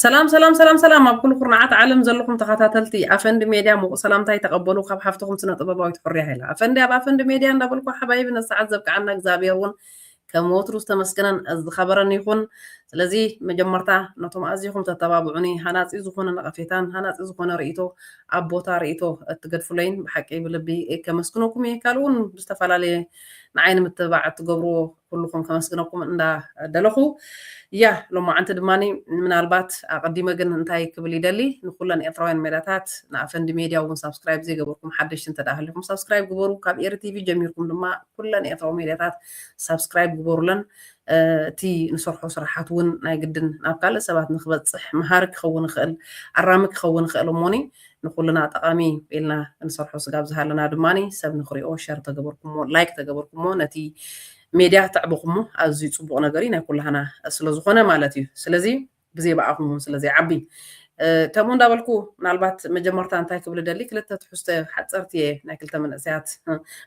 ሰላም ሰላም ሰላም ሰላም ኣብ ኩሉ ኩርናዓት ዓለም ዘለኹም ተኸታተልቲ ኣፈንዲ ሜድያ ምቑ ሰላምታይ ተቐበሉ ካብ ሓፍትኹም ስነ ጥበባዊት ሕርያ ሃይላ ኣፈንዲ ኣብ ኣፈንዲ ሜድያ እንዳበልኩ ሓባይቢ ነሰዓት ዘብቅዓና እግዚኣብሔር እውን ከም ወትሩ ዝተመስገነን ዝኸበረን ይኹን ስለዚ መጀመርታ ነቶም ኣዝኹም ተተባብዑኒ ሃናፂ ዝኾነ ነቐፌታን ሃናፂ ዝኾነ ርእቶ ኣብ ቦታ ርእቶ እትገድፍለይን ብሓቂ ብልቢ ከመስግነኩም እየ ካልእ እውን ብዝተፈላለየ ንዓይ ንምትብባዕ እትገብርዎ ኩሉኹም ከመስግነኩም እንዳ ደለኹ ያ ሎማዓንቲ ድማ ምናልባት ኣቀዲመ ግን እንታይ ክብል ይደሊ ንኩለን ኤርትራውያን ሜዳታት ንኣፈንዲ ሜድያ እውን ሳብስክራይብ ዘይገበርኩም ሓደሽቲ እንተ ሃሊኹም ሳብስክራይብ ግበሩ ካብ ኤሪ ቲቪ ጀሚርኩም ድማ ኩለን ኤርትራዊ ሜድያታት ሳብስክራይብ ግበሩለን እቲ ንሰርሖ ስራሓት እውን ናይ ግድን ናብ ካልእ ሰባት ንክበፅሕ መሃሪ ክኸውን ይኽእል ኣራሚ ክኸውን ይኽእል እሞኒ ንኹልና ጠቓሚ እዩ ኢልና እንሰርሖ ስጋብ ዝሃለና ድማ ሰብ ንኽሪኦ ሸር ተገበርኩሞ ላይክ ተገበርኩሞ ነቲ ሜድያ ተዕብኹሞ ኣዝዩ ጽቡቕ ነገር እዩ ናይ ኩላህና ስለዝኾነ ማለት እዩ ስለዚ ብዘይ ብኣኹም እውን ስለዘይዓቢ ከምኡ እንዳበልኩ ምናልባት መጀመርታ እንታይ ክብል ደሊ ክልተ ትሕዝቶ ሓፀርቲ እየ ናይ ክልተ መንእሰያት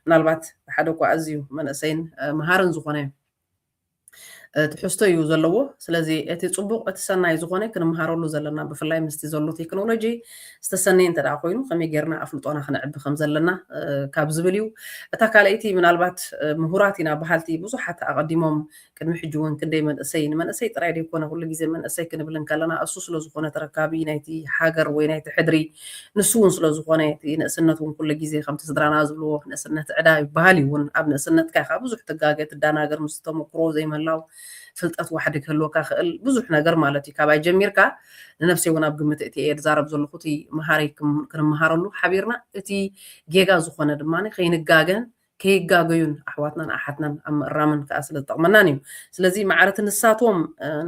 ምናልባት ሓደ እኳ ኣዝዩ መንእሰይን መሃርን ዝኾነ ትሕዝቶ እዩ ዘለዎ ስለዚ እቲ ፅቡቅ እቲ ሰናይ ዝኾነ ክንምሃረሉ ዘለና ብፍላይ ምስቲ ዘሎ ቴክኖሎጂ ዝተሰነየ እንተ ኮይኑ ከመይ ጌርና ኣፍልጦና ክነዕቢ ከም ዘለና ካብ ዝብል እዩ እታ ካልኣይቲ ምናልባት ምሁራት ኢና በሃልቲ ብዙሓት ኣቐዲሞም ቅድሚ ሕጂ እውን ክንደይ መንእሰይ ንመንእሰይ ጥራይ ዘይኮነ ኩሉ ግዜ መንእሰይ ክንብል ከለና እሱ ስለ ዝኾነ ተረካቢ ናይቲ ሃገር ወይ ናይቲ ሕድሪ ንሱ እውን ስለ ዝኾነ እቲ ንእስነት እውን ኩሉ ግዜ ከምቲ ስድራና ዝብልዎ ንእስነት ዕዳ ይበሃል እዩ እውን ኣብ ንእስነትካ ኢኻ ብዙሕ ትጋገ ትደናገር ምስቲ ተመኩሮ ዘይምህላው ፍልጠት ዋሕዲ ክህልወካ ክእል ብዙሕ ነገር ማለት እዩ ካባይ ጀሚርካ ንነብሰይ እውን ኣብ ግምት እቲ እየ ድዛረብ ዘለኹ እቲ መሃሪ ክንመሃረሉ ሓቢርና እቲ ጌጋ ዝኾነ ድማ ከይንጋገን ከይጋገዩን ኣሕዋትናን ኣሓትናን ኣብ ምእራምን ከኣ ስለ ዝጠቕመናን እዩ። ስለዚ ማዕረቲ ንሳቶም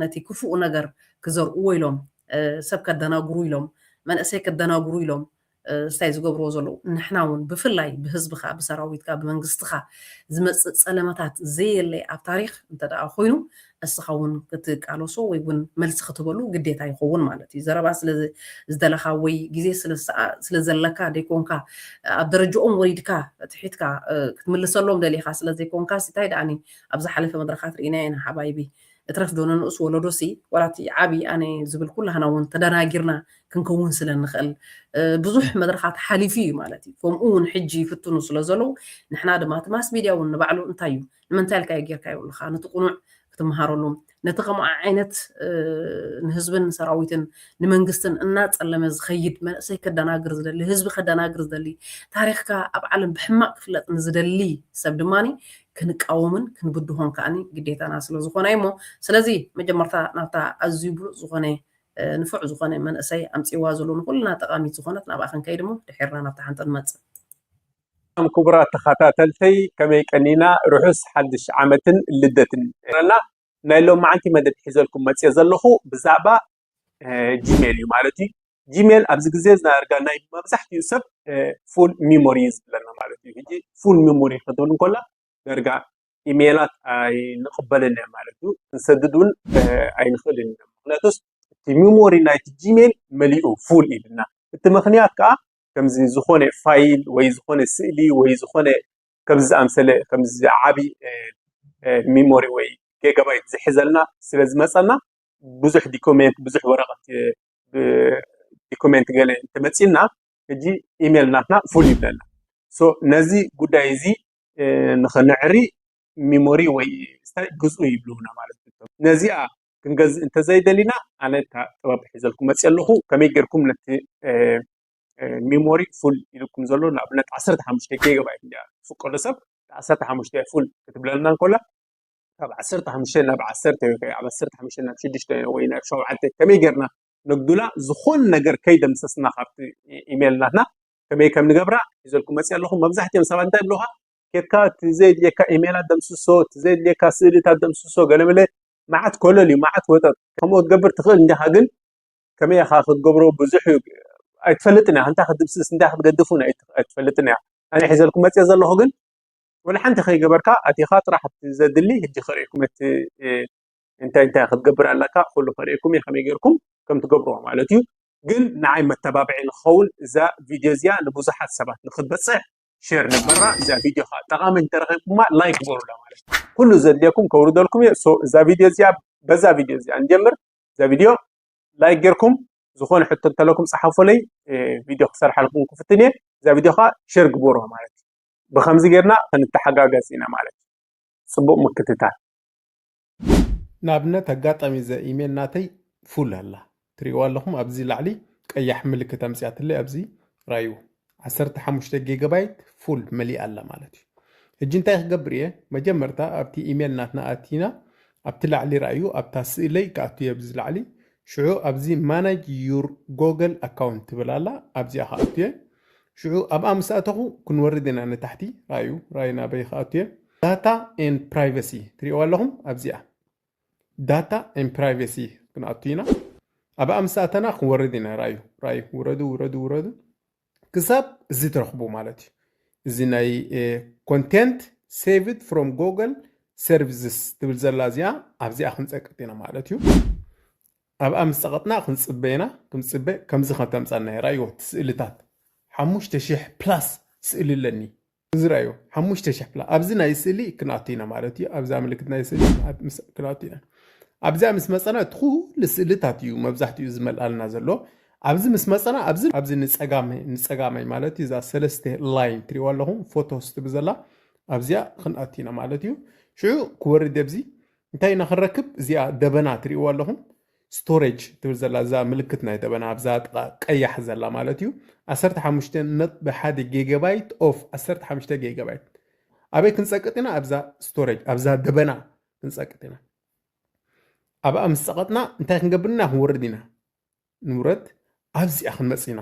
ነቲ ክፉእ ነገር ክዘርኡዎ ኢሎም፣ ሰብ ከደናግሩ ኢሎም፣ መንእሰይ ከደናግሩ ኢሎም ስታይ ዝገብሩዎ ዘለዉ፣ ንሕና እውን ብፍላይ ብህዝብኻ፣ ብሰራዊትካ፣ ብመንግስትኻ ዝመጽእ ጸለመታት ዘየለ ኣብ ታሪኽ እንተደኣ ኮይኑ እስኻ ውን ክትቃለሶ ወይ ውን መልሲ ክትህበሉ ግዴታ ይኸውን ማለት እዩ። ዘረባ ስለ ዝደለኻ ወይ ግዜ ስለ ዘለካ ደይኮንካ ኣብ ደረጅኦም ወሪድካ ትሒትካ ክትምልሰሎም ደሊኻ ስለ ዘይኮንካ ሲ ታይ ደኣኒ ኣብ ዝሓለፈ መድረኻት ርኢናዮ ኢና ሓባይቢ እትረፍ ዶ ንንኡስ ወለዶ ሲ ዋላ እቲ ዓቢ ኣነ ዝብል ኩላህና ውን ተደናጊርና ክንከውን ስለ ንኽእል ብዙሕ መድረኻት ሓሊፉ እዩ ማለት እዩ። ከምኡ ውን ሕጂ ይፍትኑ ስለ ዘለዉ ንሕና ድማ እቲ ማስ ሚድያ ውን ንባዕሉ እንታይ እዩ ንምንታይ ኢልካዮ ጌርካ ይብሉኻ ነቲ ቁኑዕ ክትመሃረሉ ነቲ ከምኡ ዓይነት ንህዝብን ሰራዊትን ንመንግስትን እናጸለመ ዝኸይድ መንእሰይ ከደናግር ዝደሊ ህዝቢ ከደናግር ዝደሊ ታሪኽካ ኣብ ዓለም ብሕማቅ ክፍለጥ ንዝደሊ ሰብ ድማ ክንቃወምን ክንብድሆን ከዓኒ ግዴታና ስለ ዝኾነ እዩ እሞ ስለዚ መጀመርታ ናብታ ኣዝዩ ብሉፅ ዝኾነ ንፉዕ ዝኾነ መንእሰይ ኣምፅዋ ዘሎ ንኩልና ጠቃሚት ዝኾነት ናብኣ ክንከይድ እሞ ድሒርና ናብታ ሓንቲ ንመፅእ ሰላም ክቡራት ተኻታተልተይ ከመይ ቀኒና ርሑስ ሓድሽ ዓመትን ልደትን ይግበረልና ናይ ሎማዓንቲ መደብ ሒዘልኩም መጽየ ዘለኹ ብዛዕባ ጂሜል እዩ ማለት እዩ ጂሜል ኣብዚ ግዜ ዝናርጋ ናይ መብዛሕትኡ ሰብ ፉል ሚሞሪ እዩ ዝብለና ማለት እዩ ሕጂ ፉል ሚሞሪ ክትብል እንኮላ ደርጋ ኢሜላት ኣይንቕበልን እያ ማለት እዩ ክንሰድድ እውን ኣይንኽእልን ኢና ምክንያቱስ እቲ ሚሞሪ ናይቲ ጂሜል መሊኡ ፉል ኢልና እቲ ምክንያት ከዓ ከምዚ ዝኾነ ፋይል ወይ ዝኾነ ስእሊ ወይ ዝኾነ ከምዚ ዝኣምሰለ ከምዚ ዓቢ ሚሞሪ ወይ ጌጋባይት ዝሕዘልና ስለ ዝመጸና ብዙሕ ዲኮሜንት ብዙሕ ወረቐት ዲኮሜንት ገለ እንተመጺና ሕጂ ኢሜል ናትና ፉል ይብለና ነዚ ጉዳይ እዚ ንኸነዕሪ ሚሞሪ ወይ ግዝኡ ይብሉና ማለት እዩ ነዚኣ ክንገዝእ እንተዘይደሊና ኣነ እታ ጥበብ ሒዘልኩም መፅየ ኣለኹ ከመይ ጌርኩም ነቲ ሚሞሪ ፉል ኢልኩም ዘሎ ንኣብነት ዓሰርተ ሓሙሽተ ጌጋባይት እያ ትፍቀዶ ሰብ ዓሰርተ ሓሙሽተ ፉል ክትብለና እንከላ ካብ ዓሰርተ ሓሙሽተ ናብ ዓሰርተ ወይ ኣብ ዓሰርተ ሓሙሽተ ናብ ሽዱሽተ ወይ ናብ ሸውዓተ ከመይ ጌርና ነጉላ ዝኾን ነገር ከይደምሰስና ካብቲ ኢሜል ናትና ከመይ ከም ንገብራ ሒዘልኩም መፅየ ኣለኹ መብዛሕትኦም ሰባት እንታይ ብለኻ ኬድካ እቲ ዘየድልየካ ኢሜላት ደምስሶ እቲ ዘየድልየካ ስእልታት ደምስሶ ገለመለ መዓት ኮለል እዩ መዓት ወጠጥ ከምኡ ክትገብር ትኽእል እንዲኻ ግን ከመይ ኢኻ ክትገብሮ ብዙሕ እዩ ኣይትፈልጥን ኢኻ እንታይ ክትድምስስ እንታይ ክትገድፍ እውን ኣይትፈልጥን ኢኻ ኣነ ሒዘልኩም መፂኤ ዘለኹ ግን ወላ ሓንቲ ከይገበርካ ኣቲኻ ጥራሕ እቲ ዘድሊ ሕጂ ከርእኩም እቲ እንታይ እንታይ ክትገብር ኣለካ ኩሉ ከርእኩም እዩ ከመይ ጌርኩም ከም ትገብርዎ ማለት እዩ ግን ንዓይ መተባብዒ ንክኸውን እዛ ቪድዮ እዚኣ ንብዙሓት ሰባት ንክትበፅሕ ሼር ንግበራ እዛ ቪድዮ ከዓ ጠቃሚ እንተረኪብኩማ ላይክ ግበሩላ ማለት እዩ ኩሉ ዘድልየኩም ከውርደልኩም እየ ሶ እዛ ቪድዮ እዚኣ በዛ ቪድዮ እዚኣ ንጀምር እዛ ቪድዮ ላይክ ጌርኩም ዝኾነ ሕቶ እንተለኩም ፀሓፉለይ ቪድዮ ክሰርሓልኩም ክፍትን እየ እዛ ቪድዮ ከዓ ሼር ግበሮ ማለት እዩ ብከምዚ ጌርና ክንተሓጋገዝ ኢና ማለት እዩ ፅቡቅ ምክትታል ንኣብነት ኣጋጣሚ እዛ ኢሜል ናተይ ፉል ኣላ ትሪእዋ ኣለኹም ኣብዚ ላዕሊ ቀያሕ ምልክት ኣምፅያትለይ ኣብዚ ራዩ ዓሰርተ ሓሙሽተ ጌጋባይት ፉል መሊኣ ኣላ ማለት እዩ ሕጂ እንታይ ክገብር እየ መጀመርታ ኣብቲ ኢሜል ናትና ኣቲና ኣብቲ ላዕሊ ራእዩ ኣብታ ስእለይ ክኣቱ እየ ብዚ ላዕሊ ሽዑ ኣብዚ ማናጅ ዩር ጎገል ኣካውንት ትብል ኣላ ኣብዚኣ ክኣቱ እየ ሽዑ ኣብኣ ምስ ኣተኹ ክንወርድ ኢና ንታሕቲ ራእዩ ራእዩ ናበይ ክኣቱ እየ ዳታ ኤንድ ፕራይቨሲ ትሪእዋ ኣለኹም ኣብዚኣ ዳታ ኤንድ ፕራይቨሲ ክንኣቱ ኢና ኣብኣ ምስ ኣተና ክንወርድ ኢና ራዩ ራዩ ውረዱ ውረዱ ውረዱ ክሳብ እዚ ትረኽቡ ማለት እዩ እዚ ናይ ኮንቴንት ሴቭድ ፍሮም ጎግል ሰርቪስስ ትብል ዘላ እዚኣ ኣብዚኣ ክንፀቅጥ ኢና ማለት እዩ ኣብኣ ምስ ፀቐጥና ክንፅበ ኢና ክንፅበ ከምዚ ከተምፃና እያ ራእይዎ እቲ ስእልታት ሓሙሽተ ሽሕ ፕላስ ስእሊ ኣለኒ እዚ ራእዩ ሓሙሽተ ሸሕፕላ ኣብዚ ናይ ስእሊ ክንኣቱ ኢና ማለት እዩ ኣብዛ ምልክት ናይ ስእሊ ክንኣቱ ኢና ኣብዚኣ ምስ መፀና እቲ ኩሉ ስእልታት እዩ መብዛሕትኡ ዝመልኣልና ዘሎ ኣብዚ ምስ መፀና ኣብዚ ኣብዚ ንፀጋመይ ንፀጋመይ ማለት እዩ እዛ ሰለስተ ላይን ትሪእዋ ኣለኹም ፎቶ ስትብ ዘላ ኣብዚኣ ክንኣት ኢና ማለት እዩ ሽዑ ክወርድ ኣብዚ እንታይ ኢና ክንረክብ እዚኣ ደበና ትሪእዋ ኣለኹም Storage ትብል ዘላ እዛ ምልክት ናይ ደበና ኣብዛ ጥቃ ቀያሕ ዘላ ማለት እዩ ዓሰርተ ሓሙሽተ ነጥቢ ሓደ ጌጋባይት ኦፍ ዓሰርተ ሓሙሽተ ጌጋባይት ኣበይ ክንጸቅጥ ኢና ኣብዛ ስቶሬጅ ኣብዛ ደበና ክንጸቅጥ ኢና ኣብኣ ምስ ጸቐጥና እንታይ ክንገብር ኢና ክንወርድ ኢና ንውረድ ኣብዚኣ ክንመጽእ ኢና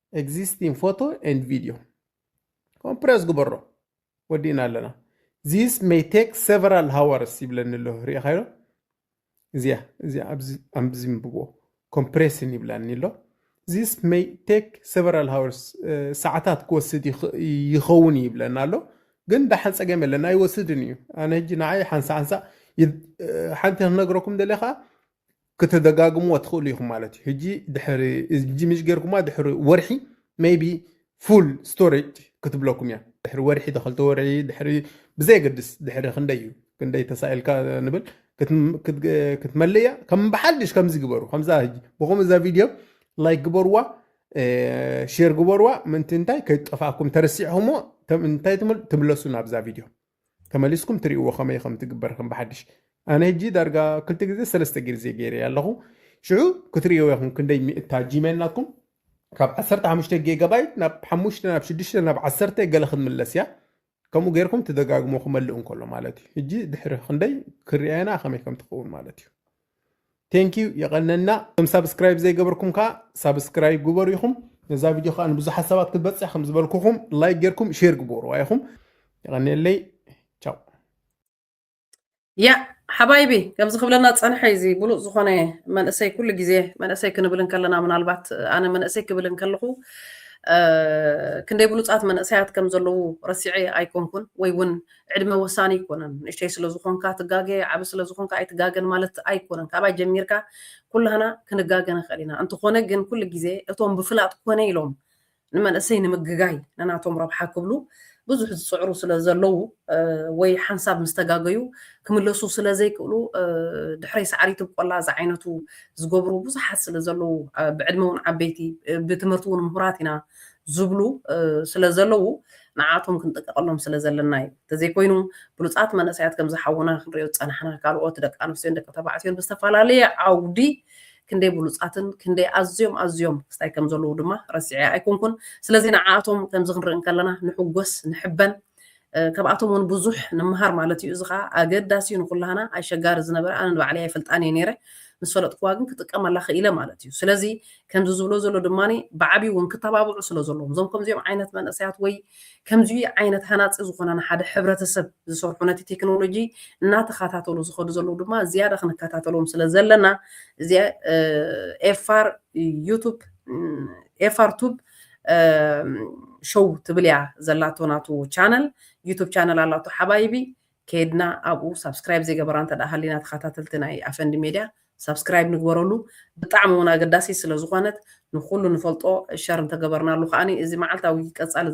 ኤግዚስቲንግ ፎቶ ኤንድ ቪድዮ ኮምፕረስ ግበሮ ወዲእና ኣለና ዚስ ሜይ ቴክ ሰቨራል ሃወርስ ይብለኒ ኣሎ ሪኢኻዮ እዚያ እዚያ ኣብዚ ኣብዚ ምብዎ ኮምፕሬስን ይብላኒ ኣሎ ዚስ ሜይ ቴክ ሰቨራል ሃወርስ ሰዓታት ክወስድ ይኽ- ይኸውን እዩ ይብለና ኣሎ ግን ዳሓን ፀገም የለን ኣይወስድን እዩ ኣነ ሕጂ ንዓይ ሓንሳ ሓንሳ ይ- ሓንቲ ክነግረኩም ደለ ከዓ ክትደጋግምዎ ትኽእሉ ኢኹም ማለት እዩ ሕጂ ድሕሪ እዚ ምሽ ጌርኩማ ድሕሪ ወርሒ ሜይቢ ፉል ስቶሬጅ ክትብለኩም እያ ድሕሪ ወርሒ ተኸልተ ወርሒ ድሕሪ ብዘየገድስ ድሕሪ ክንደይ እዩ ክንደይ ተሳኢልካ ንብል ክትም- ክት- ክትመልእ እያ ከም ብሓድሽ ከምዚ ግበሩ ከምዛ ሕጂ ብኸምኡ እዛ ቪድዮ ላይክ ግበርዋ ሼር ግበርዋ ምእንቲ እንታይ ከይጠፋእኩም ተረሲዕኹሞ ተም- እንታይ ትምል- ትምለሱ ናብዛ ቪድዮ ተመሊስኩም ትሪእዎ ከመይ ከም ትግበር ከም ብሓድሽ ኣነ ሕጂ ዳርጋ ክልተ ግዜ ሰለስተ ግዜ ገይረ ኣለኹ ሽዑ ክትሪእዎ ኢኹም ክንደይ ሚእታ ጂሜል ናትኩም ካብ 15 ጌጋባይት ናብ 5 ናብ 6 ናብ 10 ገለ ክትምለስ እያ ከምኡ ጌርኩም ትደጋግሞ ክመልእ እንከሎ ማለት እዩ ሕጂ ድሕሪ ክንደይ ክርኣየና ከመይ ከም ትኸውን ማለት እዩ ቴንኪዩ የቐነና እቶም ሳብስክራይብ ዘይገበርኩም ከዓ ሳብስክራይብ ግበሩ ኢኹም ነዛ ቪድዮ ከዓ ንብዙሓት ሰባት ክትበፅሕ ከም ዝበልኩኹም ላይክ ጌርኩም ሼር ግበሩዋ ኢኹም የቐኒየለይ ቻው ያ ሓባይቢ ከምዚ ክብለና ዝፀንሐ እዚ ብሉፅ ዝኾነ መንእሰይ ኩሉ ግዜ መንእሰይ ክንብል እንከለና ምናልባት ኣነ መንእሰይ ክብል እንከለኹ ክንደይ ብሉፃት መንእሰያት ከም ዘለዉ ረሲዐ ኣይኮንኩን ወይ እውን ዕድመ ወሳኒ ኣይኮነን። ንእሽተይ ስለ ዝኾንካ ትጋገ፣ ዓቢ ስለ ዝኾንካ ኣይትጋገን ማለት ኣይኮነን። ካባይ ጀሚርካ ኩላህና ክንጋገ ንኽእል ኢና። እንተኾነ ግን ኩሉ ግዜ እቶም ብፍላጥ ኮነ ኢሎም ንመንእሰይ ንምግጋይ ንናቶም ረብሓ ክብሉ ብዙሕ ዝጽዕሩ ስለ ዘለዉ ወይ ሓንሳብ ምስ ተጋገዩ ክምለሱ ስለ ዘይክእሉ ድሕረይ ሳዕሪ ትብቆላ ዝዓይነቱ ዝገብሩ ብዙሓት ስለ ዘለዉ ብዕድመ እውን ዓበይቲ ብትምህርቲ እውን ምሁራት ኢና ዝብሉ ስለ ዘለዉ ንዓኣቶም ክንጥንቀቐሎም ስለ ዘለና እዩ። እንተዘይኮይኑ ብሉጻት መንእሰያት ከምዚ ሓውና ክንሪኦ ዝጸናሕና ካልኦት ደቂ ኣንስትዮን ደቂ ተባዕትዮን ብዝተፈላለየ ዓውዲ ክንደይ ብሉጻትን ክንደይ ኣዝዮም ኣዝዮም ክስታይ ከም ዘለዉ ድማ ረሲዐ ኣይኮንኩን። ስለዚ ንዓኣቶም ከምዚ ክንርኢ እንከለና ንሕጎስ ንሕበን ካብኣቶም እውን ብዙሕ ንመሃር ማለት እዩ። እዚ ከኣ ኣገዳሲ እዩ ንኩላህና። ኣይሸጋሪ ዝነበረ ኣነ ንባዕለይ ኣይፈልጣን እየ ነይረ ምስ ፈለጥኩዋ ግን ክጥቀመላ ክኢለ ማለት እዩ። ስለዚ ከምዚ ዝብሎ ዘሎ ድማ ብዓብዩ እውን ክተባብዑ ስለ ዘለዎም እዞም ከምዚኦም ዓይነት መንእሰያት ወይ ከምዚ ዓይነት ሃናፂ ዝኾነ ንሓደ ሕብረተሰብ ዝሰርሑ ነቲ ቴክኖሎጂ እናተኸታተሉ ዝኸዱ ዘለዉ ድማ ዝያዳ ክንከታተሎም ስለ ዘለና እዚ ኤፋር ዩቱብ ኤፋር ቱብ ሾው ትብል እያ ዘላቶ ናቱ ቻነል ዩቱብ ቻነል ኣላቶ ሓባይቢ ከይድና ኣብኡ ሳብስክራይብ ዘይገበራ እንተድኣ ሃሊና ተኻታተልቲ ናይ ኣፈንዲ ሜድያ ሳብስክራይብ ንግበረሉ ብጣዕሚ ውን ኣገዳሲት ስለ ዝኾነት ንኹሉ ንፈልጦ ሸር እንተገበርናሉ ከኣኒ እዚ መዓልታዊ ቀጻሊ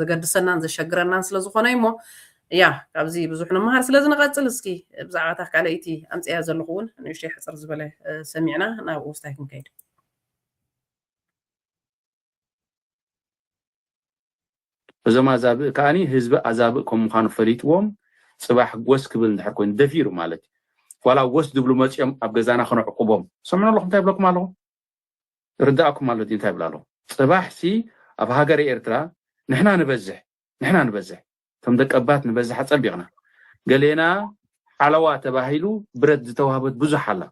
ዘገድሰናን ዘሸግረናን ስለ ዝኾነ እዩ እሞ ያ ካብዚ ብዙሕ ንመሃር ስለዚ ንቐጽል እስኪ ብዛዕባ እታ ካልኣይቲ ኣምጽያ ዘለኹ ውን ንእሽተይ ሕጽር ዝበለ ሰሚዕና ናብ ውስታይ ክንከይድ እዞም ኣዛብእ ከኣ ህዝቢ ኣዛብእ ከም ምዃኑ ፈሊጥዎም ጽባሕ ጎስ ክብል እንድሕር ኮይኑ ደፊሩ ማለት እዩ ዋላ ጎስ ዝብሉ መጺኦም ኣብ ገዛና ክነዕቁቦም ሰምዑ ኣለኹም እንታይ ይብለኩም ኣለኹ ርዳእኩም ኣሎ ድዩ እንታይ ይብል ኣለኹ ጽባሕ ሲ ኣብ ሃገረ ኤርትራ ንሕና ንበዝሕ ንሕና ንበዝሕ እቶም ደቀባት ንበዝሕ ኣጸቢቕና ገሌና ሓለዋ ተባሂሉ ብረት ዝተዋህበት ብዙሕ ኣላ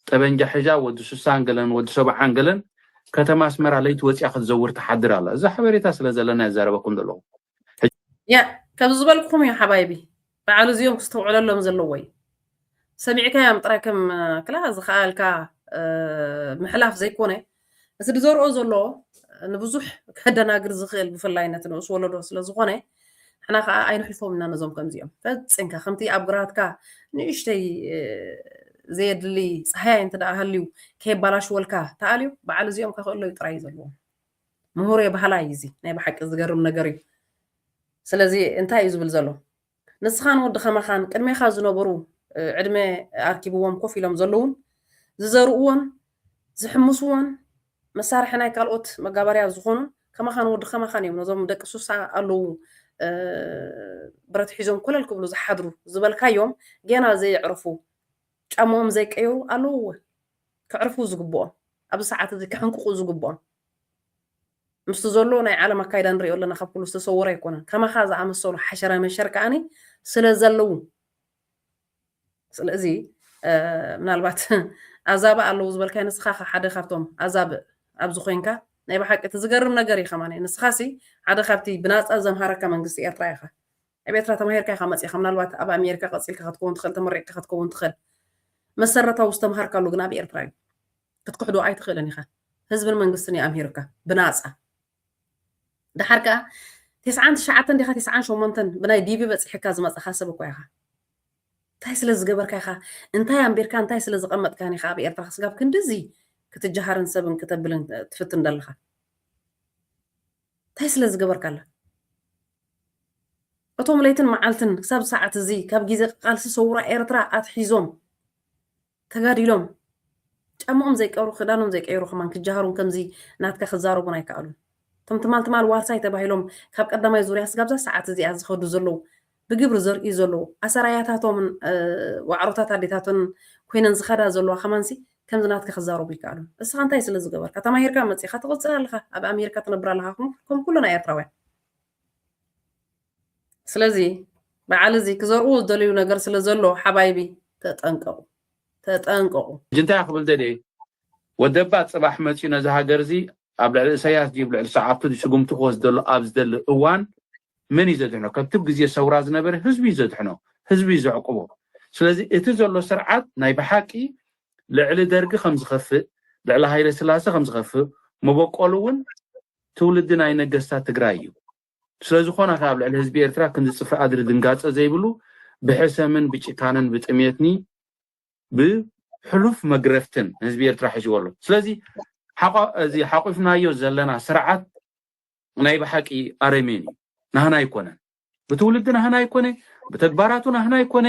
ጠበንጃ ሒዛ ወዲ ስሳን ገለን ወዲ ሰብዓን ገለን ከተማ ኣስመራ ለይቲ ወፂኣ ክትዘውር ትሓድር ኣላ እዚ ሓበሬታ ስለ ዘለና ይዛረበኩም ዘለኹ ያ ከምዚ ዝበልኩም እዩ ሓባይቢ በዓሉ እዚኦም ክስተውዕለሎም ዘለዎ እዩ ሰሚዕካዮም ጥራይ ከም ክላ ዝኸኣልካ ምሕላፍ ዘይኮነ እቲ ዝዘርኦ ዘሎ ንብዙሕ ከደናግር ዝኽእል ብፍላይ ነቲ ንኡስ ወለዶ ስለ ዝኾነ ንሕና ከዓ ኣይንሕልፎም ኢና ነዞም ከምዚኦም ፈፂምካ ከምቲ ኣብ ግራትካ ንእሽተይ ዘየድሊ ፀሃያይ እንተ ደኣ ሃልዩ ከየባላሽወልካ ተኣልዩ በዓል እዚኦም ከኽእሎ እዩ ጥራይ ዘለዎ ምሁር የባህላ እዩ እዚ ናይ ብሓቂ ዝገርም ነገር እዩ ስለዚ እንታይ እዩ ዝብል ዘሎ ንስኻን ወዲ ከማኻን ቅድሜኻ ዝነበሩ ዕድመ ኣርኪብዎም ኮፍ ኢሎም ዘለዉን ዝዘርኡዎን ዝሕምሱዎን መሳርሒ ናይ ካልኦት መጋበርያ ዝኾኑን ከማኻን ወዲ ከማኻን እዮም ነዞም ደቂ ሱሳ ኣለዉ ብረት ሒዞም ኮለል ክብሉ ዝሓድሩ ዝበልካዮም ገና ዘየዕረፉ ጫማኦም ዘይቀየሩ ኣለዉዎ ከዕርፉ ዝግብኦም ኣብዚ ሰዓት እዚ ክሕንቅቑ ዝግብኦም ምስቲ ዘሎ ናይ ዓለም ኣካይዳ ንሪኦ ኣለና ካብ ኩሉ ዝተሰወረ ኣይኮነን ከማኻ ዝኣመሰሉ ሓሸረ መሸር ከኣኒ ስለ ዘለዉ ስለዚ ምናልባት ኣዛብእ ኣለዉ ዝበልካይ ንስኻ ከ ሓደ ካብቶም ኣዛብእ ኣብዚ ኮይንካ ናይ ብሓቂ እቲ ዝገርም ነገር እዩ ከማኒ ንስኻ ሲ ሓደ ካብቲ ብናፃ ዘምሃረካ መንግስቲ ኤርትራ ኢኻ ኣብ ኤርትራ ተማሂርካ ኢኻ መፂእኻ ምናልባት ኣብ ኣሜሪካ ቀፂልካ ክትከውን ትኽእል ተመሪቕካ ክትከውን ትኽእል መሰረታዊ ዝተምሃርካሉ ግን ኣብ ኤርትራ እዩ ክትክሕዶ ኣይትኽእልን ኢኻ ህዝብን መንግስትን እዩ ኣምሂሩካ ብናጻ ደሓር ከኣ ቴስዓን ትሽዓተን ዲኻ ቴስዓን ሸሞንተን ብናይ ዲቪ በጺሕካ ዝመጻኻ ሰብ እኮ ኢኻ እንታይ ስለ ዝገበርካ ኢኻ እንታይ ኣንቢርካ እንታይ ስለ ዝቐመጥካን ኢኻ ኣብ ኤርትራ ክስጋብ ክንድዚ ክትጀሃርን ሰብን ክተብልን ትፍትን ዘለኻ እንታይ ስለ ዝገበርካ ኣላ እቶም ለይትን መዓልትን ክሳብ ሰዓት እዚ ካብ ግዜ ቃልሲ ሰውራ ኤርትራ ኣትሒዞም ተጋዲሎም ጫምኦም ዘይቀብሩ ክዳኖም ዘይቀየሩ ከማን ክጃሃሩን ከምዚ ናትካ ክዛረቡን ኣይከኣሉን። እቶም ትማል ትማል ዋርሳይ ተባሂሎም ካብ ቀዳማይ ዙርያ ስጋብ እዛ ሰዓት እዚኣ ዝኸዱ ዘለዉ ብግብሪ ዘርእዩ ዘለዉ ኣሰራያታቶምን ዋዕሮታት ኣዴታቶን ኮይነን ዝኸዳ ዘለዋ ከማንሲ ከምዚ ናትካ ክዛረቡ ኣይከኣሉን። እስኻ እንታይ ስለ ዝገበርካ ተማሂርካ መጺኻ ትቕጽል ኣለኻ ኣብ ኣሜሪካ ትነብር ኣለኻ ከም ኩልና ኤርትራውያን። ስለዚ በዓል እዚ ክዘርኡዎ ዝደልዩ ነገር ስለ ዘሎ ሓባይቢ ተጠንቀቁ ተጠንቀቁ። ሕጂ እንታይ ክብል ደልየ ወደባት ጽባሕ መጽዩ ነዚ ሃገር እዚ ኣብ ልዕሊ እሰያስ ድዩ ልዕሊ ሰዓብቱ ድዩ ስጉምቲ ክወስድ ዘሎ ኣብ ዝደሊ እዋን መን እዩ ዘድሕኖ ከምቲ ብ ግዜ ሰውራ ዝነበረ ህዝቢ እዩ ዘድሕኖ ህዝቢ እዩ ዘዕቁቦ ስለዚ እቲ ዘሎ ስርዓት ናይ ብሓቂ ልዕሊ ደርጊ ከም ዝኸፍእ ልዕሊ ሃይለስላሰ ከም ዝኸፍእ መበቆሉ ውን ትውልዲ ናይ ነገስታት ትግራይ እዩ። ስለዝኾና ከኣ ኣብ ልዕሊ ህዝቢ ኤርትራ ክንዲ ጽፍሪ ኣድሪ ድንጋጸ ዘይብሉ ብሕሰምን ብጭካነን ብጥሜትኒ ብ ሕሉፍ መግረፍትን ንህዝቢ ኤርትራ ሒዝዎ ኣሎ ስለዚ እዚ ሓቑፍናዮ ዘለና ስርዓት ናይ ብሓቂ ኣረሜን እዩ ናህና ኣይኮነን ብትውልዲ ናህና ኣይኮነ ብተግባራቱ ናህና ኣይኮነ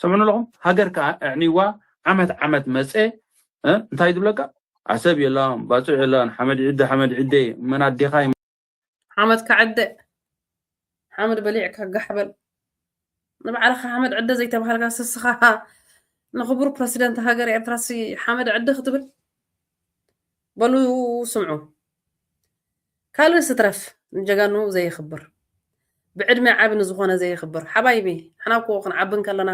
ሰምዑን ኣለኹም ሃገር ከዓ ኣዕኒዋ ዓመት ዓመት መፀ እንታይ ዝብለካ ዓሰብ የላን ባፅዕ የላን ሓመድ ዕደ ሓመድ ዕደ መን ኣዴኻ ሓመድ ከዕደ ሓመድ በሊዕካ ጋሕ በል ንባዕልኻ ሓመድ ዕደ ዘይተባሃልካ ስስኻ ንኽቡር ፕረሲደንት ሃገር ኤርትራሲ ሓመድ ዕደ ክትብል በሉ ስምዑ ካልእ ስትረፍ ንጀጋኑ ዘየኽብር ብዕድመ ዓቢ ንዝኾነ ዘየኽብር ሓባይቢ ሓና እኮ ክንዓቢ ከለና